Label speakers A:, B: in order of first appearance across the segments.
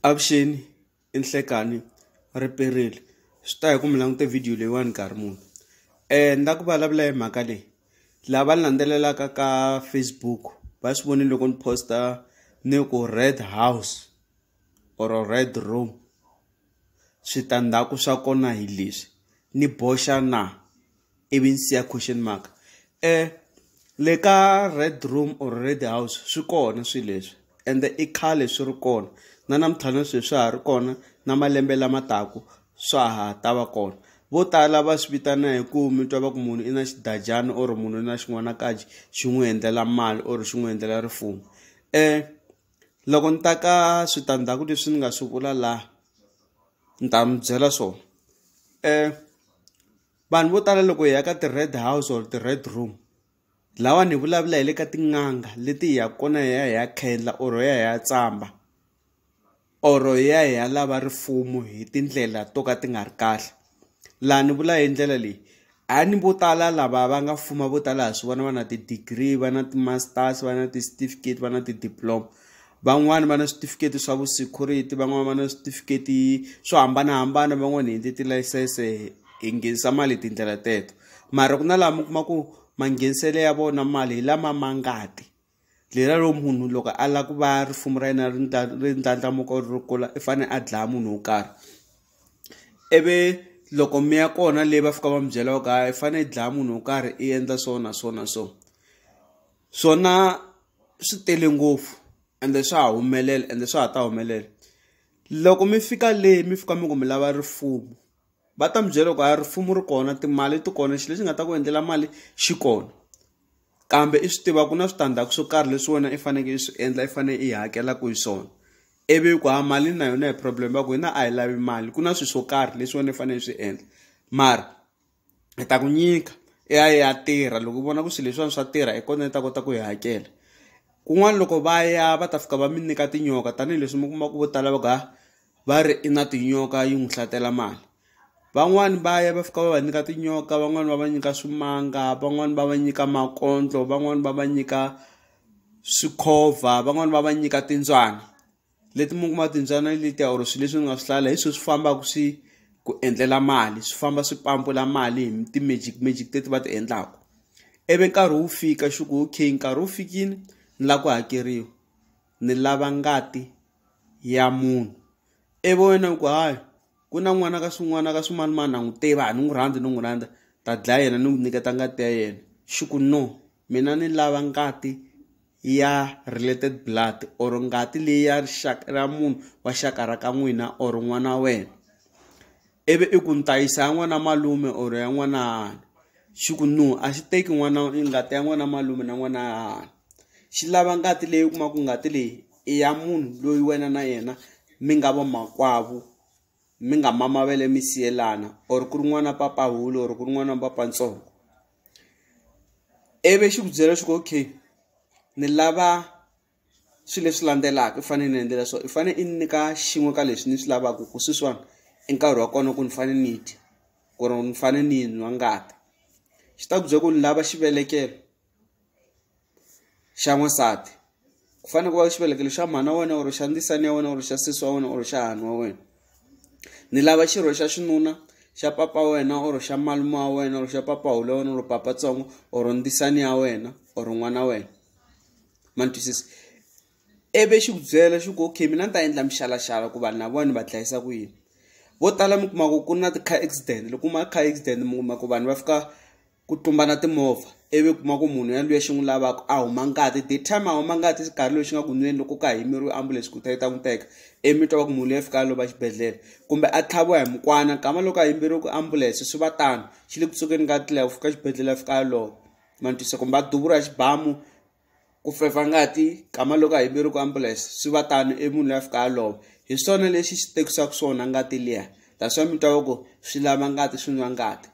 A: Avuxeni i Nhlekani riperile swi ta hi ku mi langute video leyiwani nkarhi muni ni la ku vulavula hi mhaka leyi lava ni landzelelaka ka Facebook va swi vonile loko ni posta ni ku red house or red room switandzhaku swa kona hi leswi ni boxa na. ivi ni siya question mark um le ka red room or red house swi kona swilo leswi ende i khale swi ri kona na namuntlha na sweswi swa ha ri kona na malembe lama taku swa ha ta va kona vo tala va swi vitana hi ku mi twa va ku munhu i na xidajana or munhu i na xin'wanakaji xi n'wi endlela mali or xi n'wi endlela rifumo um loko ni ta ka switandzhaku leswi ni nga swi vula laha ni ta mi byela swona um vanhu vo tala loko hi ya ka ti-red house or ti-red room lawa ni vulavula hi le ka tin'anga leti hi ya kona hi ya hi ya khendla or hi ya hi ya tsamba or hi ya hi ya lava rifumo hi tindlela to ka ti nga ri kahle laha ni vula hi ndlela leyi a ni vo tala lava va nga fuma vo tala ha swi vona va na ti-degree va na ti-masters va na ti-certificate va na ti-diploma van'wani va na switifiketi swa vu security van'wani va na switifiketi swo hambanahambana van'wani hi endle tilayisense hi nghenisa mali hi tindlela teto mara ku na laha mi kuma ku mangheniselo ya vona mali hi lama ma ngati leri ro munhu loko a lava ku va risimu ra yena ri ri ndlandlamuka ri kula i fanele a dlaya munhu wo karhi ivi loko mi ya kona leyi va fika va mi byela ku hayi i fanele i dlaya munhu wo karhi i endla so na so na so. swona swi tele ngopfu ende swa ha humelela ende swa ha ta humelela loko mi fika le mi fika mi ku mi lava rifuwo va ta mi byela ku a rifumo ri kona timali ti kona xilo lexi nga ta ku endlela mali xi kona kambe i swi tiva ku na switandzhaku swo karhi leswi wena i faneke i swi endla i fane i hakelaku hi swona ivi ku ha mali na yona hi problem va ku hina a hi lavi mali ku na swi swo karhi leswi wena i fane i swi endla mara. hi ta ku nyika i ya ya tirha loko u vona ku swilo leswiwani swa tirha hi kona ni ta kota ku yi hakela kun'wana loko va ya va ta fika va mi nyika tinyoka tanihileswi mi kuma ku vo tala va ku ha va ri i na tinyoka yi n'wi hlatela mali van'wani va ya va fika va va nyika tinyoka van'wani va va nyika swimanga van'wani va va nyika makondlo van'wani va va nyika swikhova van'wani va va nyika timbyana. leti mi kuma timbyana letiya or swilo leswi ni nga swi hlaya la hi swona swi fambaka swi ku endlela mali swi famba swi pampula mali hi ti-magic magic teti va ti endlaka ivi nkarhi wu fika xi ku okay nkarhi wu fikile ni lava ku hakeriwa ni lava ngati ya munhu ivi wena u ku hayi ku na n'wana ka swin'wana ka swimanimani na n'wi tiva a ni n'wi rhandzi ni n'wi rhandza ta dlaya yena ni n'wi nyiketa ngati ya yena xi ku no mina ni lava ngati. ya related blood or ngati leyi ya rixaka ra munhu wa xaka ra ka n'wina or n'wana wa wena ivi i ku ni ta yisa ya n'wana malume or ya n'wana xi ku no a xi teki n'wana ngati ya n'wana malume na n'wana xi lava ngati leyi u kumaka ngati leyi i ya munhu loyi wena na yena mi nga va makwavo mi nga mama va le mi siyelana or ku ri n'wana papahulo or ku ri n'wana wa papatsongo. ivi xi ku byela swa ku okay ni lava swilo leswi landzelaka u fanele ni endlela so i fanele i nyika xin'we ka leswi ni swi lavaka ku sweswiwani i nkarhi wa kona ku ni fanele ni dya ku ri ni fanele ni nwa ngati xi ta ku byela ku ni lava xivelekelo xa n'wansati ku fanele ku va xivelekelo xa mhana wa wena or xa ndzisani ya wena or xa sesi wa wena or xa hani wa wena ni lava xirho xa xinuna xa papa wa wena or xa malume wa wena or xa papa hulu ya wena or papa tsongo or ndzisani ya wena or n'wana wa wena ma ni twisisa ivi xi ku byela xi ku okay mina ni ta endla mixalaxala ku vanhu lava ni va dlayisa ku yini vo tala mi kuma ku ku na ti-car accident loko kuma car accident mi kuma ku vanhu va fika ku tlumbana timovha ivi kuma ku munhu ya luya xi n'wi lavaka a huma ngati the time a huma ngati xikarhi loyi xi nga ku nweni loko ka yimeriwe ambulense ku ta yi ta n'wi teka ivi mi twa va ku munhu loyi fika lova xibedhlele kumbe a tlhaviwa hi mukwana kama loko a yimberiwe ku ambulense swi va tano xi le ku tsukeni ka tlela ku fika xibedhlele a fika a lova ma ni twisa kumbe a duvura xibamu ku fevha ngati kama loko a yimeriwa ku ambulense swi va tano i munhu loyi a fika a lova hi swona lexi xi tekisaka swona ngati liya that's why mi twa va ku swi lava ngati swi nwa ngati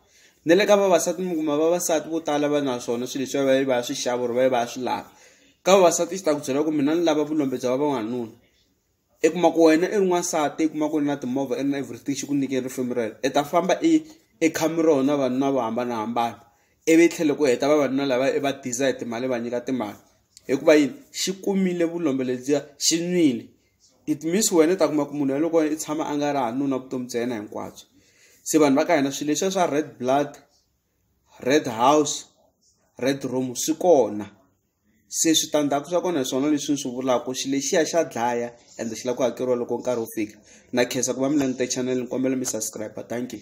A: na le ka vavasati mi kuma vavasati vo tala va na swona swilo leswi va va swi xava or va va swi lava ka vavasati xi ta ku byela ku mina ni lava vulombe bya va vanuna. i kuma ku wena i ri n'wansati i kuma ku ri na timovha i ri na everything xi ku nyikile rifambi ra yena i ta famba i i kha mi rona vavanuna vo hambanahambana ivi tlhela ku heta vavanuna lava i va diza hi timali va nyika timali hikuva yini xi kumile vulombe lebyiya xi nwile it means wena u ta kuma ku munhu yaloye loko i tshama a nga ri hanuna vutomi bya yena hinkwabyo se vanhu va ka hina swilo leswiya swa red blood red house red room swi kona. se switandzhaku swa kona hi swona leswi ni swi vulaka xi lexiya xa dlaya ende xi lava ku hakeriwa loko nkarhi wu fika na khensa ku va mi langute channel ni kombela mi subscribe thank you.